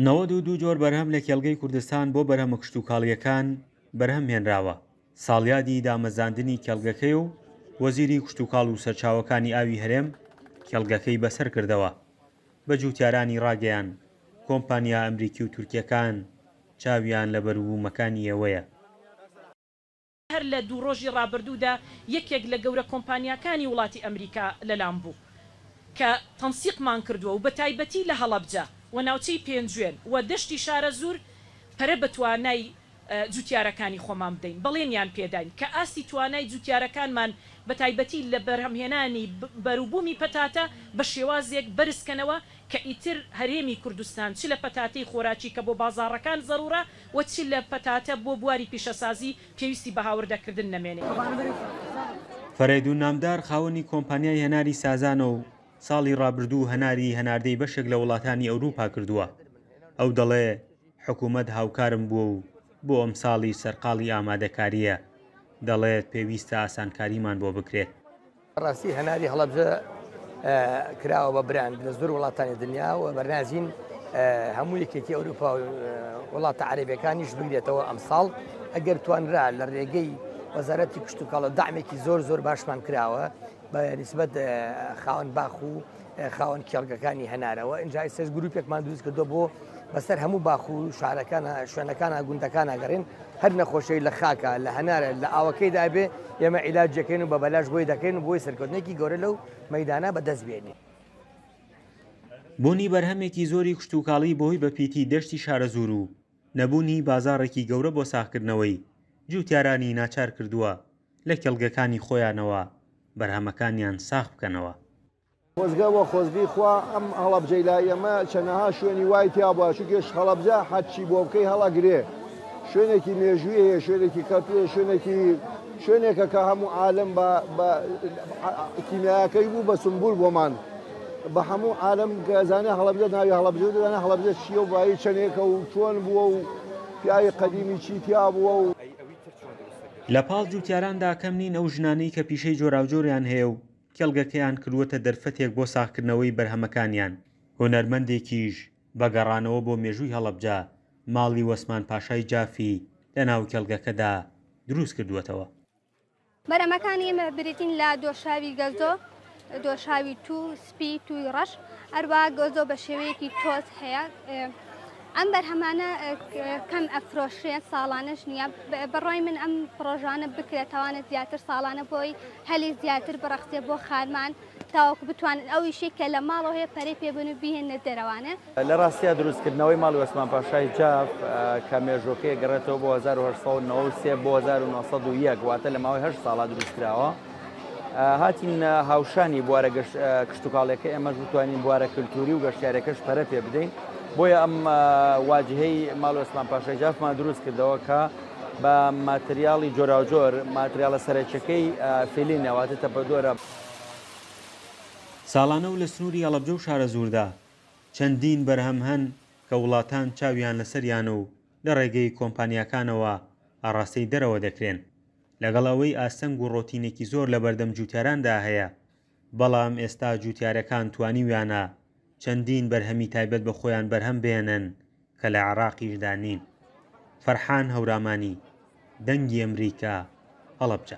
نەوەد و دوو جۆر بەرهەم لە کێڵگەی کوردستان بۆ بەرهەمە کشتوکاڵییەکان بەرهەم هێنراوە، ساڵیادی دامەزراندنی کێڵگەکەیە و وەزیری کشتوکاڵ و سەرچاوەکانی ئاوی هەرێم کێڵگەکەی بەسەر کردەوە، بە جووتیارانی ڕاگەیان، کۆمپانیا ئەمریکی و تورکییەکان چاویان لە بەروبوومەکانی ئێوەیە. هەر لە دوو ڕۆژی ڕابردوودا یەکێک لە گەورە کۆمپانیاکانی وڵاتی ئەمریکا لەلام بوو کە تەنسیقمان کردووە و بەتایبەتی لە هەڵەبجە و ناوچەی پێنجوێن و دەشتی شارەزوور پەرە بە توانای جووتیارەکانی خۆمان بدەین. بەڵێنیان پێداین کە ئاستی توانای جووتیارەکانمان بەتایبەتی لە بەرهەمهێنانی بەروبوومی پەتاتە بە شێوازێک بەرزکەنەوە کە ئیتر هەرێمی کوردستان چ لە پەتاتەی خۆراکی کە بۆ بازاڕەکان زەروورە و چ لە پەتاتە بۆ بواری پیشەسازی پێویستی بە هاوردەکردن نەمێنێ. فەرەیدون نامدار خاوەنی کۆمپانیای هەناری سازانە و ساڵی رابردوو هەناری هەناردەی بەشێک لە وڵاتانی ئەوروپا کردووە، ئەو دەڵێ حکومەت هاوکارم بووە و بۆ ئەمساڵیش سەرقاڵی ئامادەکارییە، دەڵێت پێویستە ئاسانکاریمان بۆ بکرێت. بەڕاستی هەناری هەڵەبجە کراوە بە براند لە زۆر وڵاتانی دنیا و بەرنازین هەموو یەکێتی ئەوروپا وڵاتە عربەکانیش بگرێتەوە ئەمساڵ ئەگەر توانرا لە ڕێگەی وەزارەتی کشتتوکەڵە دامێکی زۆر زۆر باشمان کراوە بە نسبەت خاوەن باخ و خاوەن کێڵگەکانی هەنارەوە ئینجا ئێستش گروپێکمان دروست کردو بۆ بەسەر هەموو باخ و شارەکانە شوێنەکانە گوندەکان ئەگەڕین هەر نەخۆشی لە خاکە لە هەنارە لە ئاوەکەی دابێ ئێمە عیلاجەکەین و بە بەلاش بۆی دەکەین و بۆی سەرکردنێکی گەورە لەو مەدانە بەدەست بێنی. بوونی بەرهەمێکی زۆری کشتوکاڵی بەهۆی بەپیتی دەشتی شارەزوور و نەبوونی بازاڕێکی گەورە بۆ ساغکردنەوەی، جووتیارانی ناچار کردووە لە کێڵگەکانی خۆیانەوە بەرهەمەکانیان ساغ بکەنەوە. خۆزگە وە خۆزگەی خوا ئەم هەڵەبجەی لای ئێمە چەنەها شوێنی وای تیا بوایە چونکێش هەڵەبجە هەر چی بۆ بکەی هەڵە گرێ شوێنێکی مێژووی هەیە شوێنێکی کەلتوری شوێنێکی شوێنێکە کە هەموو عالەم بە بە کیمیاکەی بوو بە سمبول بۆمان بە هەموو عالەم کە زانێ هەڵەبجە ناوی هەڵەبجە دەزانێ هەڵەبجە چییە و بایی چەنێکە و چۆن بووە و پیاوی قەدیمی چی تیا بووە و لە پاڵ جووتیاراندا کەم نین ئەو ژنانەی کە پیشەی جۆراوجۆریان هەیە و کێڵگەکەیان کردووەتە دەرفەتێک بۆ ساغکردنەوەی بەرهەمەکانیان. هونەرمەندێکیش بە گەڕانەوە بۆ مێژووی هەڵەبجە، ماڵی وەسمان پاشای جافی لەناو کێڵگەکەدا درووستکردووەتەوە. بەرەمەکانی بریتین لە دۆشاوی گەزۆ، دۆشاوی توو، سپی، تووی ڕەش، هەروەها گەزۆ بە شێوەیەکی تۆز هەیە. ئەم بەرهەمانە کەم ئەفرۆشرێن ساڵانەش نییە بڕای من ئەم پرۆژانە بکرێتەوانە زیاتر ساڵانە بۆی هەلی زیاتر بڕەخسێ بۆ خارمان تاوەکو بتوانن ئەو ئیشەی کە لە ماڵەوە هەیە پەرەی پێ بن و بیهێننە دەرەوانێ. لە ڕاستیدا دروستکردنەوەی ماڵی ئۆسمان پاشای جاف کە مێژووەکەی ئەگەڕێتەوە بۆ هەزار و هەشت سەد و نەوە و سێ بۆ هەزار و نۆ سەد و یەک واتە لە ماوەی هەشت ساڵا دروستکراوە. هاتین هاوشانی بوارە کشتوکاڵیەکە ئێمەش بتوانین بوارە کللتوری و گەشتارەکەش پەرە پێ بدەین بۆیە ئەم واجهەی ماڵ ئۆسمان پاشای جافمان دروست کردەوە کە بە ماتریاڵی جۆراوجۆر ماتریالە سەرەکیەکەی فیلینەواتە تەپەدۆرە ساڵانە و لە سنووری هەڵەبجە و شارەزووردا چەندین بەرهەم هەن کە وڵاتان چاویان لەسەریانە و لە ڕێگەی کۆمپانیاکانەوە ئاڕاستەی دەرەوە دەکرێن. لەگەڵ ئەوەی ئاستەنگ و ڕۆتینێکی زۆر لە بەردەم جووتیاراندا هەیە، بەڵام ئێستا جووتیارەکان توانیویانە چەندین بەرهەمی تایبەت بە خۆیان بەرهەم بهێنن کە لە عێراقیشدا نین. فەرحان هەورامانی، دەنگی ئەمریکا، هەڵەبجە.